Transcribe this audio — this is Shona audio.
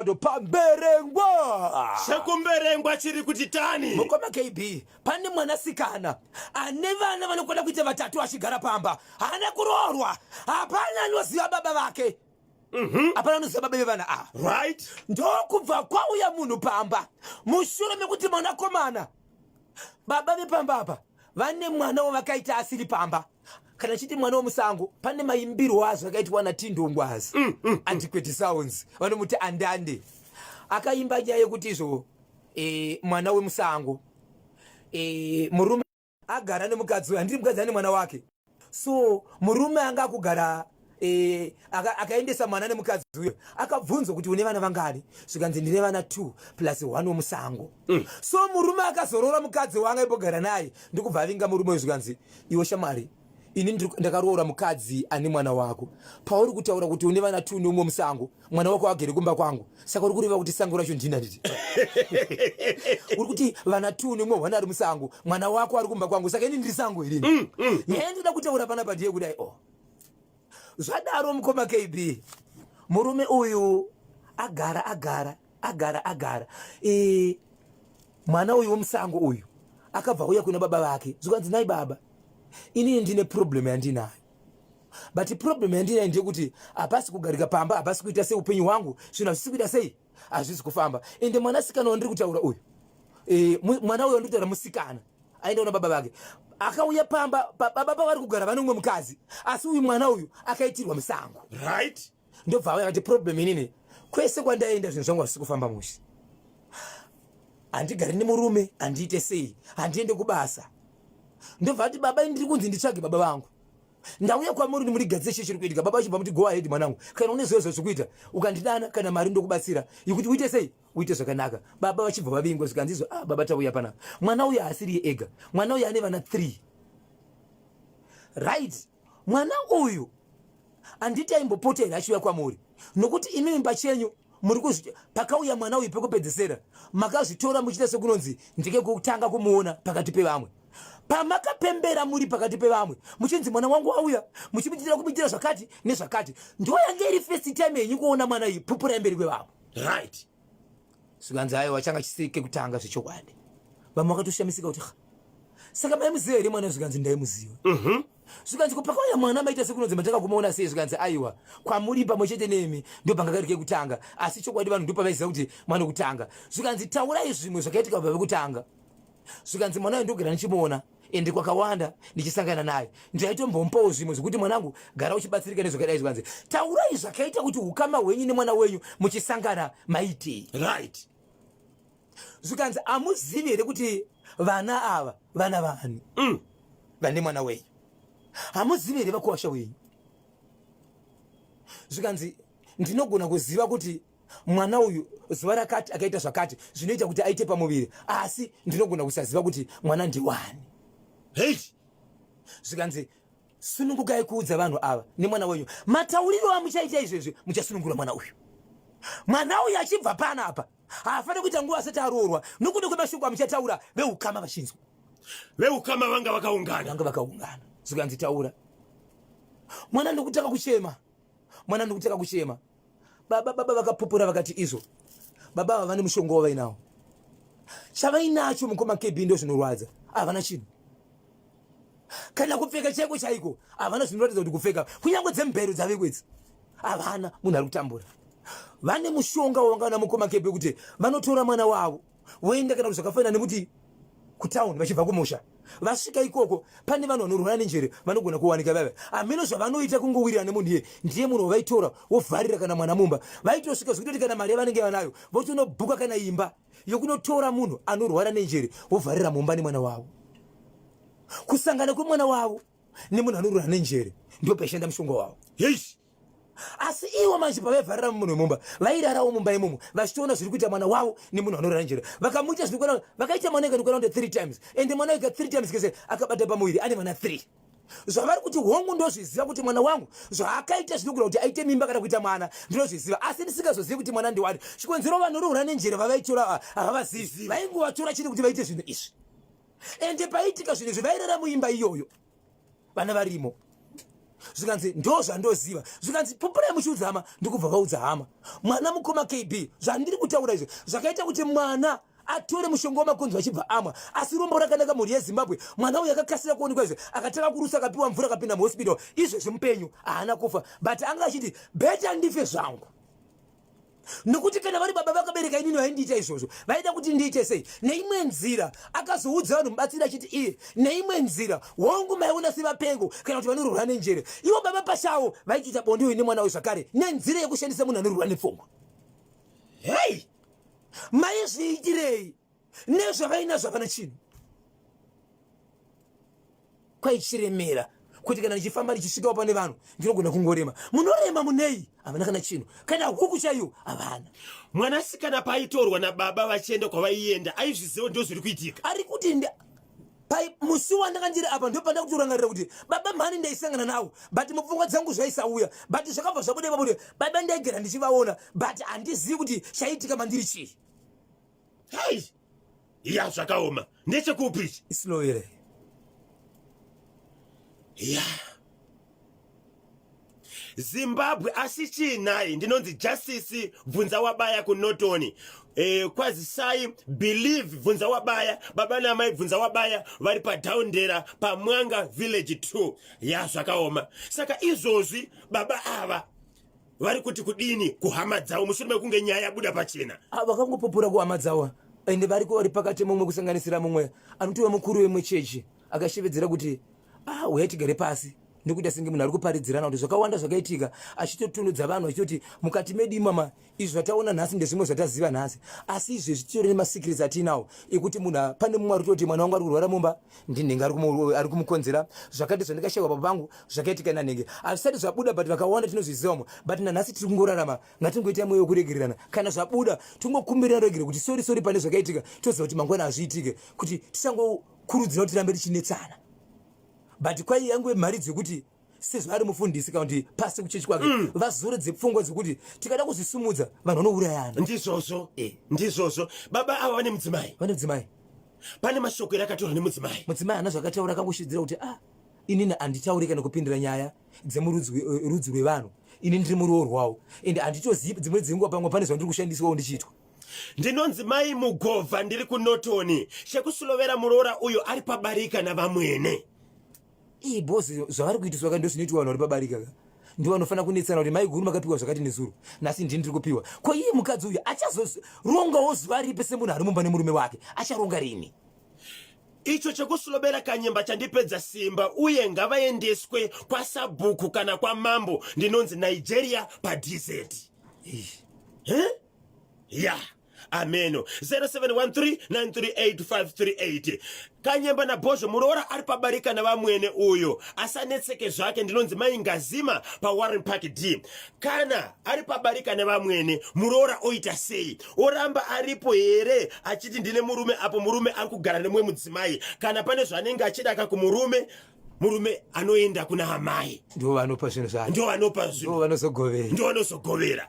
Ndo pamberengwa sekumberengwa chiri kuti tani mukoma kb pane mwanasikana ane vana vanokwana kuita vatatu achigara pamba haana kuroorwa hapana anoziva baba vake mhm. hapana anoziva baba vevana ava right ndokubva kwauya munhu pamba mushure mekuti mwanakomana Baba vepamba apa vane mwana wavakaita asiri pamba kana chiti mwana wemusango pane maimbirwo azvo akaitwa natindongwazi mm, mm, mm. antiquity sounds vanomuti andande akaimba nyaya yekuti izvo e, mwana wemusango e, murume agara nemukadzi uyo handiri mukadzi ane mwana wake so murume anga akugara eh, akaendesa mwana nemukadzi uyo akabvunzwa kuti une vana vangani zvikanzi ndine vana t plus one wemusango mm. so murume akazorora mukadzi wanga ibogara naye ndikubva avinga murume uyo zvikanzi iwe shamwari ini ndakaroora mukadzi ane mwana wako pauri kutaura kuti une vana t neumwe musango mwana wako agere kumba kwangu saka uri kureva kuti sango racho ndina nditi uri kuti vana two nemwe hwana ari musango mwana wako ari kumba kwangu saka ini ndiri sango irini mm, mm, mm. yee ndida kutaura pana pandiye kudai o oh. zvadaro mukoma kb murume uyu agara agara agara agara e, mwana uyu womusango uyu akabva kuya kuna baba vake zvikanzi nai baba inini ndine problem yandinayo but problem yandinayo ndeyekuti hapasi kugarika pamba hapasi kuita sei upenyu hwangu zvinhu hazvisi kuita sei hazvisi kufamba ende mwanasikana wandiri kutaura uyu e, mwana uyo wandiri kutaura musikana aenda una baba vake akauya pamba baba pavari kugara vane umwe mukadzi asi uyu mwana uyu akaitirwa musango right ndobva auya kati problem inini kwese kwandaenda zvinhu zvangu hazvisi kufamba mushe handigari nemurume handiite sei handiende kubasa ndobva ati baba ndiri kunzi nditsvage baba vangu ndauya kwamuri ndimurigadzire chii chiri kuitika baba vachibva muti go ahead mwanangu kana une zviyo zvazvikuita ukandidana kana mari ndokubatsira yekuti uite sei uite zvakanaka baba vachibva vavingwa zvikanzizwa ah, baba tauya panapa mwana uya haasiriye ega mwana uya ane vana three right mwana uyu handiti aimbopota here achiuya kwamuri nokuti imimi pachenyu muri kuzvi pakauya mwana uyu pekupedzesera makazvitora muchiita sekunonzi ndike kutanga kumuona pakati pevamwe pamakapembera muri pakati pevamwe muchinzi mwana wangu wauya muchimuitira kumuitira zvakati nezvakati ndoyange iri first time yenyu kuona mwana iyi pupura yemberi kwevamwe right zvikanzi aiwa changa chisiri kekutanga zvechokwadi vamwe vakatoshamisika kuti saka maimuziva here mwana zvikanzi ndaimuziva mhm. zvikanzi kupakauya mwana maita sekunonzi matakakumaona sei zvikanzi aiwa kwamuri pamwe chete nemi ndopanga kari kekutanga asi chokwadi vanhu ndopavaiziva kuti mwana kutanga zvikanzi taurai zvimwe zvakaitika baba vekutanga zvikanzi mwana uyu ndogara ndichimuona ende kwakawanda ndichisangana naye ndaitombomupawo zvimwe zvekuti mwanangu gara uchibatsirika nezvakadai zvikanzi taurai zvakaita kuti ukama hwenyu nemwana wenyu muchisangana maitei right zvikanzi amuzivi here kuti vana ava vana vani mm. vane mwana wenyu hamuzivi here vakuwasha wenyu zvikanzi ndinogona kuziva kuti mwana uyu zuva rakati akaita zvakati zvinoita kuti aite pamuviri asi ndinogona kusaziva kuti mwana ndiwani hei zvikanzi sunungukai kuudza vanhu ava nemwana wenyu matauriro amuchaita izvezvi muchasunungura mwana uyu mwana uyu achibva pana apa haafaniri kuita nguva asati aroorwa nokuda kwemashoko amuchataura veukama vachinzwa veukama vanga vakaungana vanga vakaungana zvikanzi taura mwana ndokutanga kuchema mwana ndokutanga kuchema Baba baba vakapupura vakati izvo baba ava vane mushonga wavainawo chavainacho mukoma kb ndo zvinorwadza havana chinhu kana kupfeka chaiko chaiko havana zvinoratidza kuti kupfeka kunyange dzemubhero dzaveko idzi havana munhu ari kutambura vane mushonga wavangana mukoma kb kuti vanotora mwana wavo voenda kana kuti zvakafanana nekuti kutown vachibva kumusha vasvika ikoko pane vanhu vanorwara nenjere vanogona kuwanika vava hameno zvavanoita kungowirira nemunhu iye ndiye munhu wavaitora wovharira kana mwana mumba vaitosvika zvekutoti kana mari yavanenge vanayo votonobhuka kana imba yokunotora munhu anorwara nenjere wovharira mumba nemwana wavo kusangana kwemwana wavo nemunhu anorwara nenjere ndopaishanda mushonga wavo yes. asi ivo manje pavaivharira mumunhu wemumba vairarawo mumba imomo vachitoona zviri kuita mwana wavo nemunhu anorara njere vakamuita zvinokwana vakaita mwana ikani kwana three times ende mwana ika three times kese akabata pamuviri ane vana three zvavari kuti hongu ndozviziva kuti mwana wangu zvaakaita zvinogona kuti aite mimba kana kuita mwana ndinozviziva asi ndisingazozivi kuti mwana ndiwani chikonzero vanorohura nenjere vavaitora havavazivi vaingovatora chete kuti vaite zvinhu izvi ende paitika zvinhu izvi vairara muimba iyoyo vana varimo zvikanzi ndo zvandoziva zvikanzi pupurai muchiudza hama ndikubva vaudza hama mwana mukoma kb zvandiri kutaura izvi zvakaita kuti mwana atore mushonga wamakonzo achibva amwa asi rombo rakanaka mhuri yezimbabwe mwana uyu akakasira kuonekwa izvi akatanga kurusa akapiwa mvura akapinda muhospital izvezvi mupenyu haana kufa but anga achiti beta ndife zvangu nokuti kana vari baba vakabereka inini vaindiita izvozvo vaida kuti ndiite sei neimwe nzira akazoudza vanhu mubatsiri achiti iye neimwe nzira hongu maiona sevapengo kana kuti vanorwura nenjere ivo baba pachavo vaitoita bonde uyu nemwana uyu zvakare nenzira yekushandisa munhu anorwura nepfungwa hei maizviitirei nezvavainazvo havana chinhu kwaichiremera kuti kana ndichifamba ndichisvikawo pane vanhu ndinogona kungorema munorema munei havana kana chinhu kana huku chaiyo havana mwanasikana paaitorwa nababa vachienda kwavaienda aizviziva ndo zviri kuitika ari kuti musi wandanga ndiri apa ndopanda kutorangarira kuti baba mhani ndaisangana nawo but mupfungwa dzangu zvaisauya but zvakabva zvabuda ipapo kuti baba ndaigara ndichivaona but handizivi kuti chaitika mandiri chii Hai. Ya zvakaoma. Ndechekupi ichi? Islow here? Ya. Zimbabwe asi chii nhai ndinonzi justice bvunza wabaya kunotoni eh, kwazisai believe bvunza wabaya baba namai bvunza wabaya vari padaundera pamwanga village 2 ya zvakaoma saka izvozvi baba ava vari kuti kudini kuhama dzavo mushure mekunge nyaya yabuda pachena ah, vakangopupura kuhama dzavo ende vari kuvari pakati mumwe kusanganisira mumwe anotova mukuru wemwe chechi akashevedzera kuti ah, uya tigare pasi nekuita senge munhu ari kuparidzirana kuti zvakawanda zvakaitika achitotunudza vanhu achitoti mukati medu imama izvi zvataona nhasi ndezvimwe zvataziva nhasi asi izvezvi titori nemasikirisi atiinawo ekuti munhu pane mumwe ari kutoti mwana wangu ari kurwara mumba ndinenge ari kumukonzera zvakati zvandikashaiwa baba vangu zvakaitika nanenge azvisati zvabuda but vakawanda tinozvizivamo but nanhasi tiri kungorarama ngatingoita mweya wekuregererana kana zvabuda tingokumbirira regere kuti sori sori pane zvakaitika toziva kuti mangwana hazviitike kuti tisangokurudzira kuti rambe tichinetsana but kwai yangu yemharidzo yekuti sezvaari mufundisi kana kuti pasi kuchechi kwake mm. vazoredze pfungwa dzekuti tikada kuzvisimudza vanhu vanourayana ndizvozvo eh, ndizvozvo baba ava vane mudzimai vane mudzimai pane mashoko ere akataura nemudzimai mudzimai ana zvakataura akangoshidzira kuti ah inini handitauri kana kupindira nyaya dzemurudzi eh, rwevanhu ini ndiri muroorwawo and handitozivi dzimwe dzenguva pamwe pane zvandiri kushandiswawo ndichiitwa ndinonzi mai mugova ndiri kunotoni chekusulovera muroora uyo ari pabarika navamwene Ii boss zvavari kuitiswa ka ndozvinoitwa vanhu vari pabarika ka ndivo vanofanira kunetsana kuti mai guru makapiwa zvakati nezuro nhasi ndini ndiri kupiwa ko iye mukadzi uyu achazorongawo zuva ripi semunhu ari mumba nemurume wake acharonga rini icho chekusulobera kanyemba chandipedza simba uye ngavaendeswe kwasabhuku kana kwamambo ndinonzi nigeria padz ya yeah. ameno 0713938538 kanyemba nabhozho muroora ari pabarika navamwene uyo asanetseke zvake ndinonzi mai ngazima pawarren park d kana ari pabarika nevamwene muroora oita sei oramba aripo here achiti ndine murume apo murume ari kugara nemumwe mudzimai kana pane zvaanenge achida ka kumurume murume anoenda kuna amai ndo vanopa zvinhu zvayo ndo vanopa zvinhu ndo vanozogovera ndo vanozogovera